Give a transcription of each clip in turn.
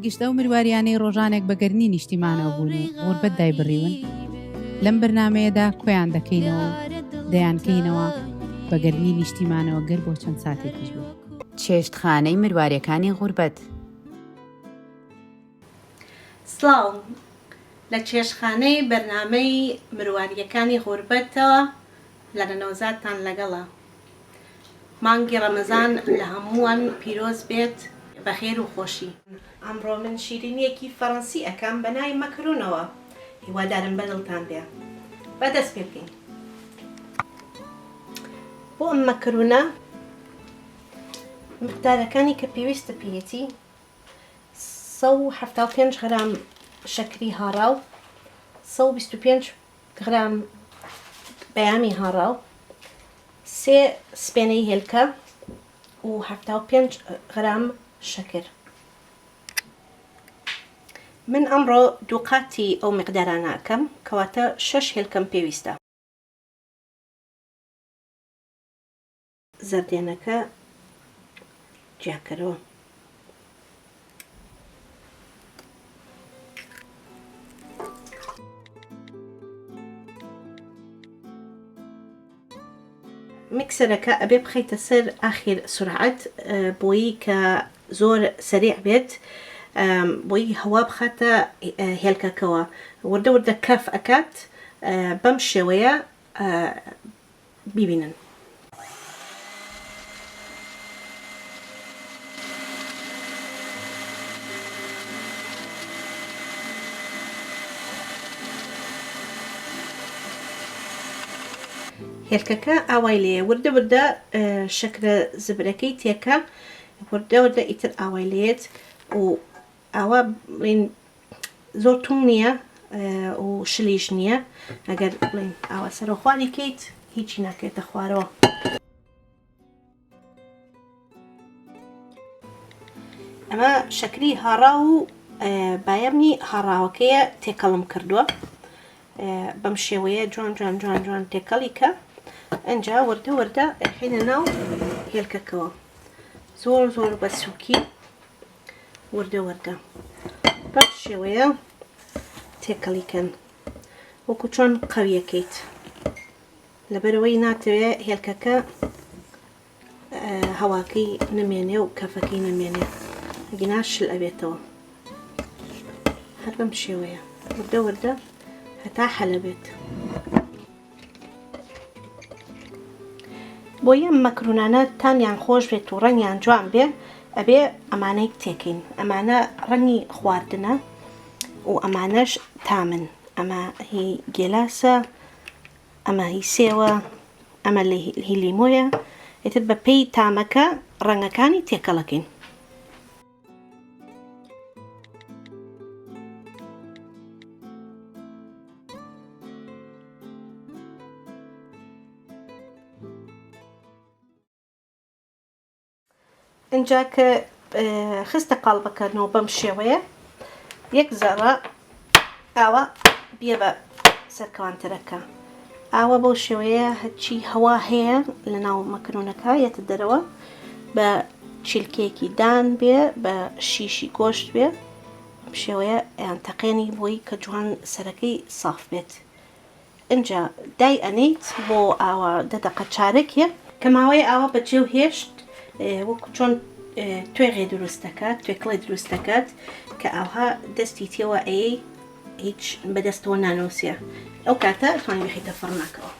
گشت ئەو مرواریانەی ڕۆژانێک بە گەرنی نیشتیمانەوە بوون و غوربەت دایبڕیون لەم بەرنمەیەدا کۆیان دەکەینەوە دەیانکەینەوە بە گەرنی نیشتیمانەوە گەر بۆ چەند ساتێکیش بوو چێشتخانەی مرواریەکانی غوربەت سڵاو لە چێشخانەی بەرنامەی مرواریەکانی غوربەتەوە لەنە نەوزادتان لەگەڵە. مانگی ڕەمەزان لە هەمووان پیرۆز بێت بە خێر و خۆشی. ئەمڕۆ من شیرینیەکی فەرەنسی ئەکەم بە ناوی مەکرونەوە هیوادارم بە دڵتان بێ با دەست پێ بکەین بۆ ئەم مەکرونە مقدارەکانی کە پێویستە پێیەتی سەد و حەفتا و پێنج غرام شەکری هاڕاو سەد و بیست و پێنج گرام پەیامی هاڕاو، سێ سپێنەی هێلکە و حەفتا و پێنج گرام شەکر. من ئەمڕۆ دووقاتی ئەو میقدارانە ئەکەم، کەواتە شەش هێلکەم پێویستە. زەردێنەکە جیاکەرەوە. میکسەرەکە ئەبێ بخەیتە سەر ئاخیر سرعەت بۆیی کە زۆر سریع بێت بۆی هەوا بخاتە هێلکەکەوە وردە وردە کەف ئەکات بەم شێوەیە بیبینن. هێلکەکە ئاوای لێ وردە وردە شەکرە زبرەکەی تێکە وردە وردە ئیتر ئاوای لێت و ئاوا بڵین زۆر توند نییە و شلیش نییە ئەگەر بڵین ئاوا سەرۆخواری کەیت هیچی ناکەێتە خوارەوە ئەمە شەکری هاڕا و بایەمنی هاڕاوەکەیە تێکەڵم کردووە بەم شێوەیە جوان جوان جوان جوان تێکەڵی کە ئەجا وردە وردە حینە ناو هێلکەکەەوە زۆر زۆر بە سووکی وردە وردە بەم شێوەیە تێکەڵی کەن وەکو چۆن قەویەکەیت لەبەرەوەی ناتەوێ هێلکەکە هەواکەی نمێنێ و کەفەکەی نمێنێ گینا شل ئەبێتەوە هەر بەم شێوەیە وردە وردە هەتا حەلە بێت بۆیە ئەم مەکرونانە تامیان خۆش بێت و ڕەنگیان جوان بێ ئەبێ ئەمانەی بتێکین ئەمانە ڕەنگی خواردنە و ئەمانەش تامن ئەمە هی گێلاسە ئەمە هی سێوە ئەمە هی لیمۆیە ئیتر بەپێی تامەکە ڕەنگەکانی تێکەڵەکەین ئەجا کە خستە قاڵبەکەنەوە بەم شێوەیە یەک زەڕە ئاوا بیە بە سەرکەوان تەرەکە ئاوا بەو شێوەیە هەرچی هەوا هەیە لە ناو مەکرونەکە یەتە دەرەوە بە چیلکێکی دان بێ بە شیشی گۆشت بێ شێوەیە یان تەقێنی بۆی کە جوان سەرەکەی ساف بێت ئنجا دای ئەنیت بۆ ئاوا دە دەقە چارەکێ کە ماوەیە ئاوا بە جێو هێشت وەکو چۆن توێغێ دروست دەکات توێکڵێ دروست دەکات کە ئاوها دەستی تێوە ئەی هیچ بەدەستەوە نانۆسیە ئەو کاتە توانی بخیتە فڕنەکەەوە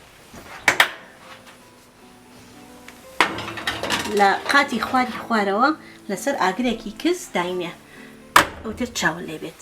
لە قاتی خواری خوارەوە لەسەر ئاگرێکی کز داینێ ئەوتر چاوە لێ بێت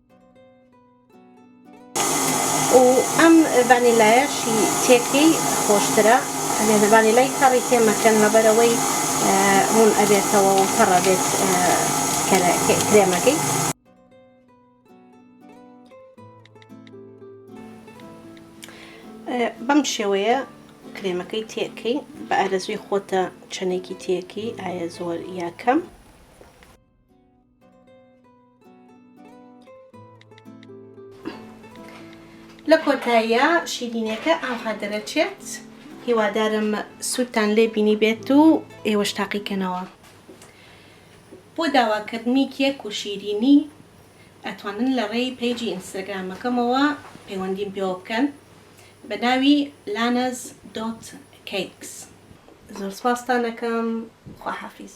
و ئەم ڤانیلایەشی تێکەی خۆشترە ئەبێت ڤانیلای تەڕی تێ مەکەن لەبەرەوەی ڕوون ئەبێتەوە و تەڕ ئەبێت کرێمەکەی. بەم شێوەیە کرێمەکەی تێکەی بە ئارەزوی خۆتە چەندێکی تێکی ئایا زۆر یا کەم. لە کۆتاییە شیرینەکە ئاها دەرەچێت هیوادارم سوودتان لێ بینی بێت و ئێوەش تاقیکەنەوە بۆ داواکردنی کێک و شیرینی ئەتوانن لە ڕێی پەیجی ئینستاگرامەکەمەوە پەیوەندیم پێوە بکەن بە ناوی لانەز دۆت کەیکس زۆر سپاستانەکەم خواحافیز